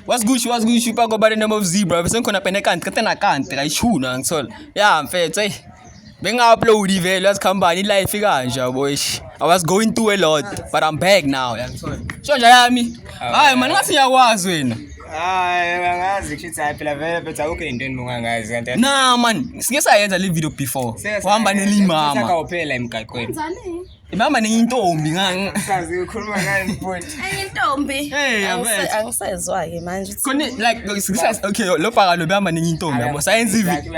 What's good, what's good, you go by the name of Zebra. Bese ngikhona pene kanti kete na kanti kayishuna ngithola. Yeah, mfethu, hey. Benga-upload vele yazi company life ikanje yabo eish. I was going through a lot, but I'm back now. Sho nje yami. Hayi man, ngathi ngiyakwazi wena. Hayi, angazi kushuthi hayi phela vele phetha akukho into enibongangazi kanti. Nah man, sike sayenza le video before. Uhamba nelimama. Saka uphela emgaqweni. Kanjani? Mama niyintombi ngani? Sazi ukhuluma ngani futhi? Ayintombi. Hey, yabetha. Angisezwa ke manje. Khona like ngisa okay lo bhaka lo bamba niyintombi yabo. Sayenza ivi.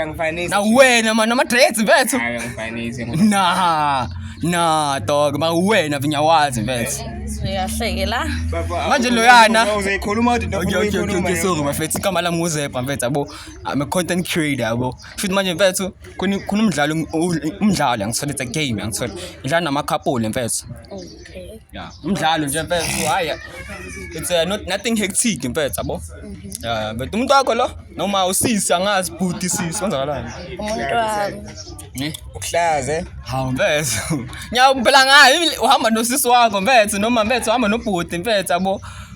Na wena manje ama dreads mfethu. Hayi ngifanise. Nah. Nah dog, ma wena vinyawazi mfethu. Uyahleke la. Manje loyana. Uzoyikhuluma uthi ndokuthi okay, okay, okay, sorry mfethu. Igama lami uZebra mfethu yabo. I'm a content creator yabo. Futhi manje mfethu khona umdlalo umdlalo angisithole it's a game angisithole ngidlala namakhapuli mfethu okay yeah umdlalo nje mfethu haya it's uh, not nothing hectic mfethu yabo mhm. yeah but umuntu wakho lo noma usisi angazi bhuti sisi kwenzakalani umuntu wami ne ukuhlaze hawu mfethu nyawo phela ngayo uhamba nosisi wakho mfethu noma mfethu uhamba nobhuti mfethu yabo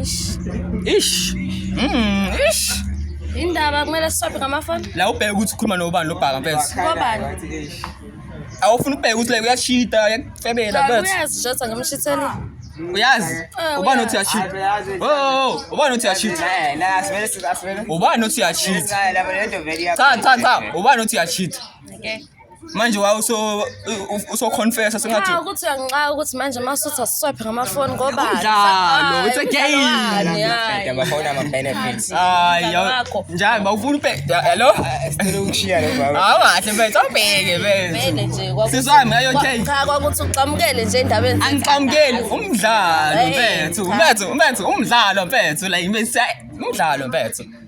ish ish mm ish indaba kumele sisophe ngamafoni la ubheke ukuthi ukhuluma nobani lobhaka mfethu kobani awufuna ubheke ukuthi like uyashita uyakufebela mfethu uyazi jotha ngimshithele uyazi eh, ubani othi uyashita oh, oh, oh ubani othi uyashita ubani othi uyashita cha cha cha ubani othi uyashita okay manje wawu usoconfessa sengathi cha ukuthi uyangixaka ukuthi manje masuthi asiswaphe ngamafoni ngoba umdlalo it's a game amafoni ama benefits hayi njalo bawufuna ubheda hello sicela ukushiya lo baba hawu kahle mfethu awubheke mfethu sizwami ayo okay cha kwakuthi uxamukele nje endabeni angixamukeli umdlalo mfethu mfethu mfethu umdlalo mfethu la imisa umdlalo mfethu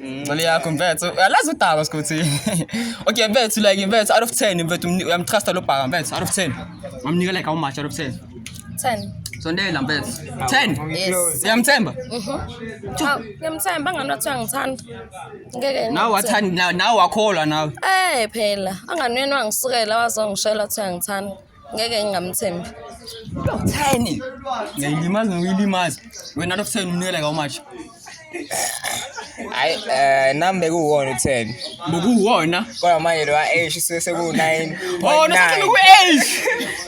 Ngcele yakho mfethu. Alazi udaba sikuthi. Okay mfethu like mfethu out of 10 mfethu uyamtrusta lo bhaka mfethu out of 10. Ngamnika like how much out of 10? 10. Sondela mfethu. 10. Yes. Uyamthemba? Mhm. Aw, ngiyamthemba angani wathi uyangithanda. Ngeke. Nawe wathanda nawe- nawe wakholwa nawe. Eh phela, angani wena wangisukela wazongishela ukuthi uyangithanda. ngeke ngingamthembi theni ngiyilimazi ngiyilimazi wena lo theni umnikela ka umashi hayi eh nami bekuwona u10 bekuwona kodwa manje lo age seku 9 oh nasele ku age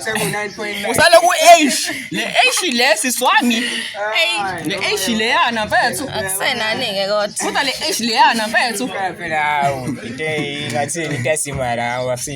seku 9.9 usale ku age le age le siswami le age le yana mfethu akusenani ke kodwa kodwa le age le yana mfethu phela hawu into ingathi into esimara awasi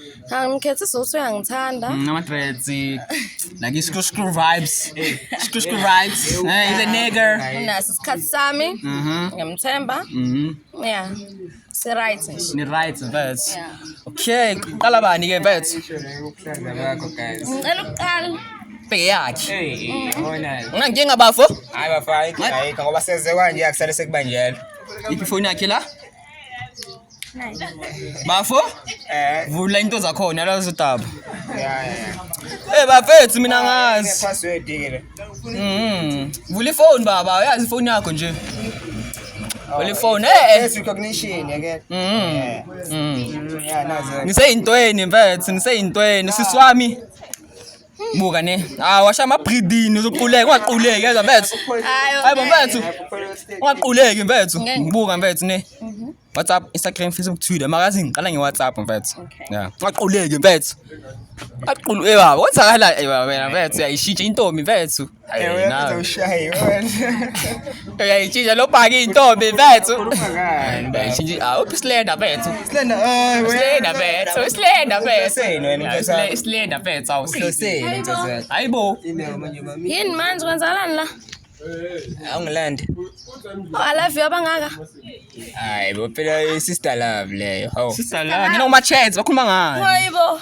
Angikhethi isizothu uyangithanda. Mm, Ama-dreads, like i-screw screw vibes. Screw screw vibes. Eh, he's a nigger. Unaso isikhathi sami. Mhm. Ngiyamthemba. Mhm. Yeah. Si-right nje. Ni right vets. Yeah. Okay, qala bani ke vets? Uhlanga bakho guys. Ngicela ukuqala. Bheke yakhe. Hey, yabona. Unankinga bafo? Hayi bafana, ayikho ngoba seze kwanje akusale sekubanjela. Iphi phone yakhe la? Nine. Bafo? Eh. Vula into zakhona la zodaba. Yeah, yeah. Eh bafethu mina ngazi. Password ke le. Mhm. Vula ifone baba, uyazi ifone yakho nje. Vula ifone. Eh. Face recognition yake. Mhm. Yeah. Mhm. Yeah, nazo. Ngiseyintweni mfethu, ngiseyintweni siswami. buka ne hayi washa amabhidini uzoquleka ungaquleki yezwa mfethu hayi bo mfethu ungaquleki mfethu buka mfethu ne mhm. whatsapp instagram facebook twitter makazi ngiqala ngewhatsapp mfethu ya ungaquleki mfethu aqulu ebaba eh, wenzakala ebaba eh, mfethu yayishintsha intombi mfethu uyayitshintsha lobhaka iy'ntombi bethu uphi isilenda bethu isilenda bethu isilenda bethu isilenda bethu awuhayi bo yini manje kwenzakalani la awungilande alaviyo abangaka hayi bo phela i-sister love leyo hawu sister love nina uma-chance bakhuluma ngayo hayi bo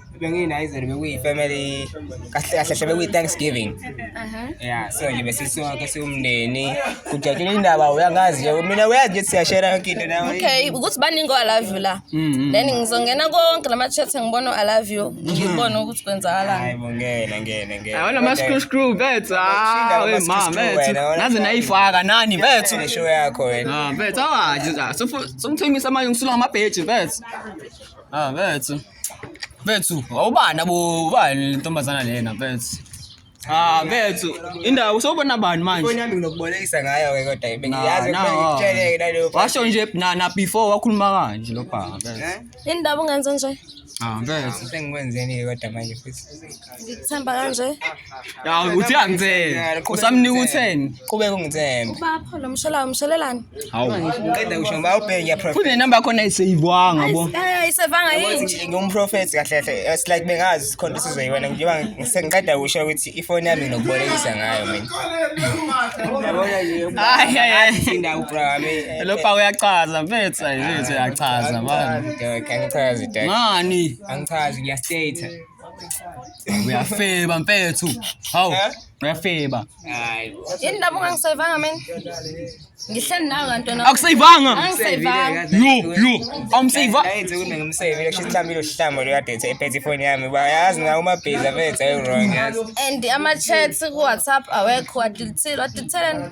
bengiyi-nizer bekuyi-family kahle kahle hle bekuyi-thanksgiving ya so nje besisonke siwumndeni kujatshula indaba uyangazi nje mina uyazi nje siyashera yonke into nawe okay ukuthi baningi o-alove you la mm, mm, mm. then ngizongena konke la ma-chat ngibona u-alove you ngibone ukuthi kwenzakalani bo ngena ngena ngena awona ma-screwscrew bethu awema ah, bethu naze nayifaka nani bethu show yakho wena ah, bethu awaje songithengisa manje ngisulwa ngamabheji bethu ah bethu Mfethu, awubani abo ubani le ntombazana lena mfethu. Ah mfethu, indawo sobona bani manje? Ifoni yami nginokubolekisa ngayo ke kodwa ibe Nah, ngiyazi nah, kumele ngitsheleke naleyo phone. Washo nje na na before wakhuluma kanje lo baba. Eh? Yini ndaba ungenze nje? Ah mfethu. Sengikwenzeni ke kodwa manje futhi. Ngikuthemba kanje. Ya uthi angithembe. Usamnika utheni? Qhubeka ungithembe. Ubapho lo msholayo umsholelani? Hawu. Qeda kusho ngoba ubheke ya prophet. Kune number khona iseyibwanga bo. Eh isevanga yini? Ngumprofet kahle kahle. It's like bengazi sikhonto sizwe yiwena ngiba sengiqeda kusho ukuthi ifoni yami nokubolekisa ngayo mina. Yabona nje. Hayi hayi. Sinda ubrame. Eh, lo pa uyachaza mfethu yethu uyachaza bani. Ngichaza. Ngani? Angichazi ngiyastate. Uyafeba mfethu. Hawu, Eh? uyafeba. Hayi. Yini lapho ngangisayivanga mina? Ngihleli nawe kantona. Akusayivanga. Angisayivanga. Yo, yo. Awumsayiva. Ayenze kuningi umsebenzi kusho isihlambile uhlamba lo kade ethi ephethe ifoni yami bayazi ngawo umabhiza bethu ayi wrong yazi And ama chats ku WhatsApp awekho wadilithile wadilithelani?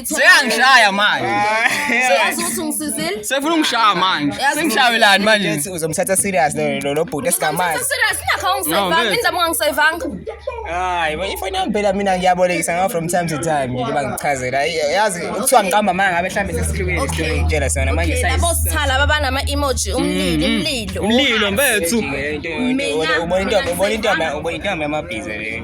Seyangishaya manje. Yazi ukuthi ungisizile? Sefuna ungishaya manje. Yazi- Sengishayelani manje? Yes, uzomthatha serious lo lo lo bhuti esingamazi. Ngizomthatha serious, ingakho No, awungisayivanga, ngeke. indaba ungangisayivanga. Hayi, bo ifoni yami phela mina ngiyabolekisa ngayo from time to time nje bangichazela. Ay, Yazi kuthiwa ngiqamba manga ngabe mhlambe sesikhulumile Okay. isikhulumile ngitshela sona manje Okay, labo sithala babanama emoji umlilo umlilo. Umlilo mfethu. Mina- Ubona intombi, ubona intombi, ubona intombi yamabhiza le.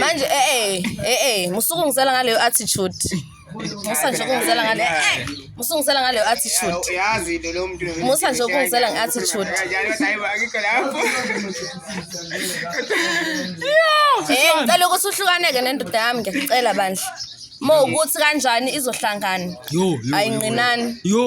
manje eh eh eh eh musukungisela ngaleyo attitude musa nje ukungisela ngale eh musungisela ngaleyo attitude uyazi into lo muntu musa nje ukungisela nge attitude eh ngicela ukuthi uhlukaneke nendoda yami ngiyacela bandla mo ukuthi kanjani izohlangana ayinqinani yo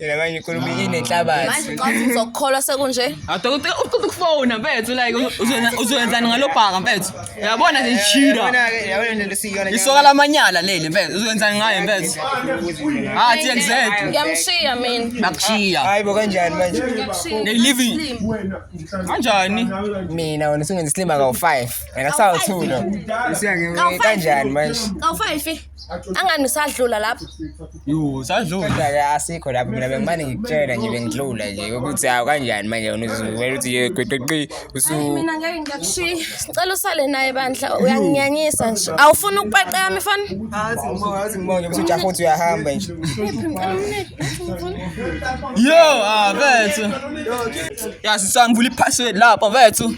Yena manje inkulumo inenhlabathi. Manje xa uthi uzokukholwa sekunje. Adokotela uqeda ukufona mfethu like uzona- uzoyenzani ngalobhaka mfethu. Uyabona nje ishira. Yabona-ke, yabona lento siyiyona Isoka lamanyala leli mfethu uzoyenzani ngaye mfethu. Ah TXZ Ngiyamshiya mina. bakushiya. Hayi bo kanjani manje? They living. Kanjani? Mina wena usungenza isilima kawu-5. Wena sawu-2 lo. Usuya nge- kanjani manje? Kawu-five. angani usadlula lapho yo sadlula kodwa-ke asikho lapho mina bengimane ngikutshela nje bengidlula nje ukuthi hawu kanjani manje wena uzivela ukuthi ye qeqeqi usu Hayi, mina ngeke ngiyakushiya sicela usale naye bandla uyanginyanyisa nje awufuni ukupeqa yami fani azi ngibonge azi ngibonge ukuthi ujaha uthi uyahamba nje yo ah vethu ya sisangivula iphasword lapha vethu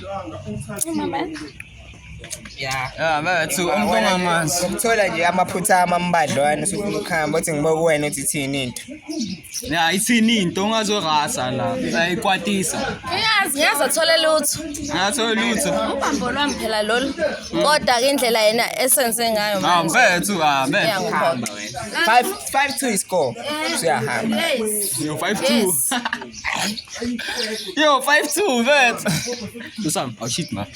ya bathi umuntu ongamazi ukuthola nje amaphutha amambadlwana usufuna ukuhamba othi ngiba kuwena uthi ithini into ya ithini into ungazorasa la ayikwatisa uyazi ngiyazi athole lutho ngathole lutho ubambo lwami phela lolu kodwa-ke indlela yena esenze ngayo ah mfethu ah mfethu uhamba wena 5 5 2 iscore siyahamba yo 5 2 yo 5 2 mfethu usam awushit oh, manje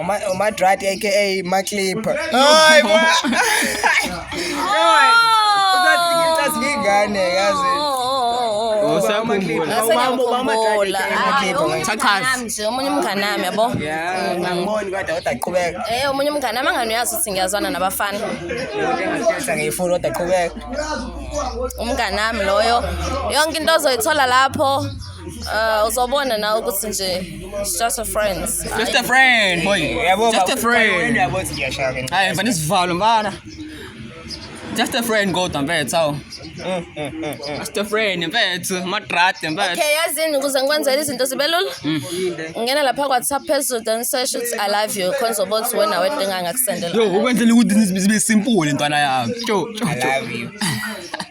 Uma uma drat aka ma clip. Hayi bo. Uzathi ngingane yazi. Usakhumbula. Ubambo bama drat aka ma clip. Chachazi. Omunye umngane nami yabo. Yeah, ngangiboni kodwa kodwa qhubeka. Eh omunye umngane nami angani uyazi ukuthi ngiyazwana nabafana. Ngiyathetha ngiyifuna kodwa qhubeka. Umngane nami loyo. Yonke into ozoyithola lapho. Uh, uzobona nawe ukuthi nje It's just a friend. Just a friend, boy. Yabo, Just a friend. Yabo, siyashaya ke. Hayi, mfana isivalo mfana. Just a friend kodwa mfethu awu. Just a friend mfethu, madrade mfethu. Okay, yazini ukuze ngikwenzele izinto zibe lula. Ngena lapha kwaTsap phezulu then search uthi I love you khonza ukuthi wena wedinga ngakusendela. Yo, ukwenzela ukuthi zibe simple ntwana yami. Cho, cho, I cho. love you.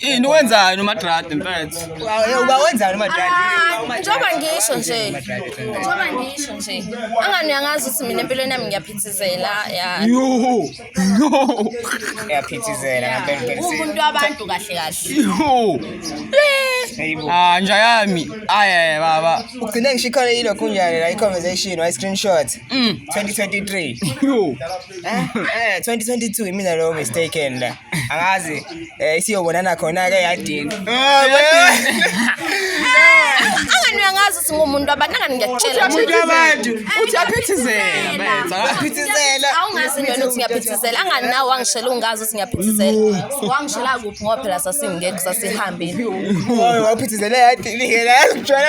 Ini wenzani umadradi mfethu? Uba wenzani umadradi? Ah, njengoba ngisho nje. Njengoba ngisho nje. Angani uyangazi ukuthi mina empilweni yami ngiyaphithizela ya. Yo. Yo. Ngiyaphithizela ngempela. Umuntu wabantu kahle kahle. Yo. Ah nja yami. Aye baba. Ugcine ngishikhole yilokhu njani la i conversation wa screenshot. 2023. Mm. Yo. eh 2022 eh, imina lo mistaken la angazi eh siyobonana khona ke yadini angani angazi singumuntu abantu angani ngiyakutshela umuntu wabantu eh, uthi aphithizela aphithizela awungazi nini ukuthi ngiyaphithizela angani nawe wangishela ungazi ukuthi ngiyaphithizela wangishela kuphi ngoba phela sasingekho sasihambile waphithizela yadini ngeke la kujwala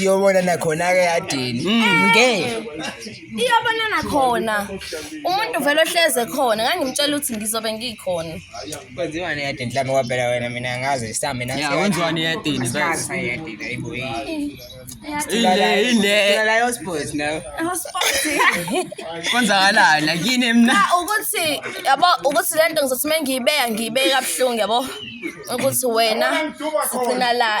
iyobona nakhona-ke yadini mm. nge iyobona nakhona umuntu vele ohleze khona ngangimtshela ukuthi ngizobe ngikhona kwenziwani eyadini mhlawumbe kwaphela wena mina ngazi samina kwenziwani eyadini konzakalani akini mna ah, ukuthi yabo ukuthi le nto ngizothi uma ngiyibeka ngiyibeka kabuhlungu yabo ukuthi wena sigcina la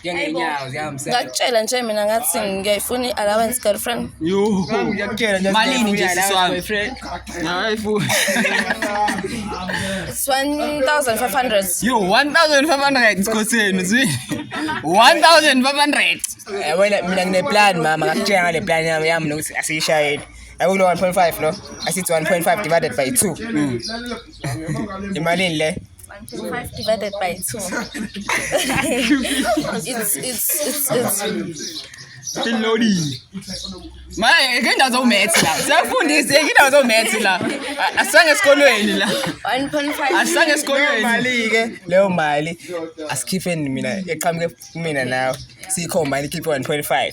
njengenyawo ziyahambisana ngakutshela nje mina ngathi ngiyayifuna i-allowance girlfriend malini nje sisi wami hayi futhi it's 1500 yo 1500 sikhoseni zwi 1500 Eh, wena mina ngineplan mama ngakutshela ngale plan yami yami nokuthi asiyishayeli akulo 1.5 lo asithi 1.5 divided by 2 imalini le 125 divided by 2. it's, it's, it's, it's. Tilodi. Manje ke ndazo maths la. Siyafundisa ke ndazo maths la. Asisange esikolweni la. 1.5. Asisange esikolweni. Mali ke leyo mali asikhipheni mina eqhamuke mina nawe. Sikho mali khiphe 1.5.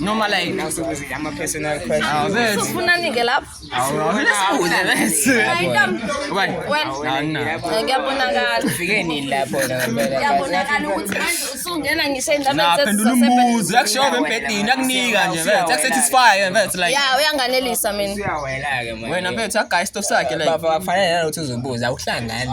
noma like ufunani-ke laphoyabonakala ukuthi manje usungena ngisho endabaphendula umbuzo yakushoba embhedini yakunika nje mfethu yakusatisfye mfethu like ya uyanganelisa mina wena mfethu yagaya isitofu sakhe like kufanele nalokuthi uzobuza awuhlangani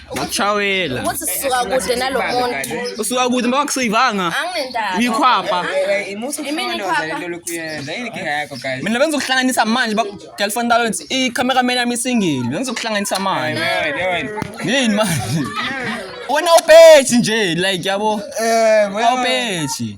Ngakshawela. Ukuthi sisuka kude nalomuntu. Usuka kude mba wakusivanga. Anginendaba. Uyikhwapha. Imini ikhwapha. Mina benza ukuhlanganisa manje ba girlfriend talent i camera man yami singile. Benza ukuhlanganisa manje. Yini manje? Wena upethi nje like yabo. Eh, wena upethi.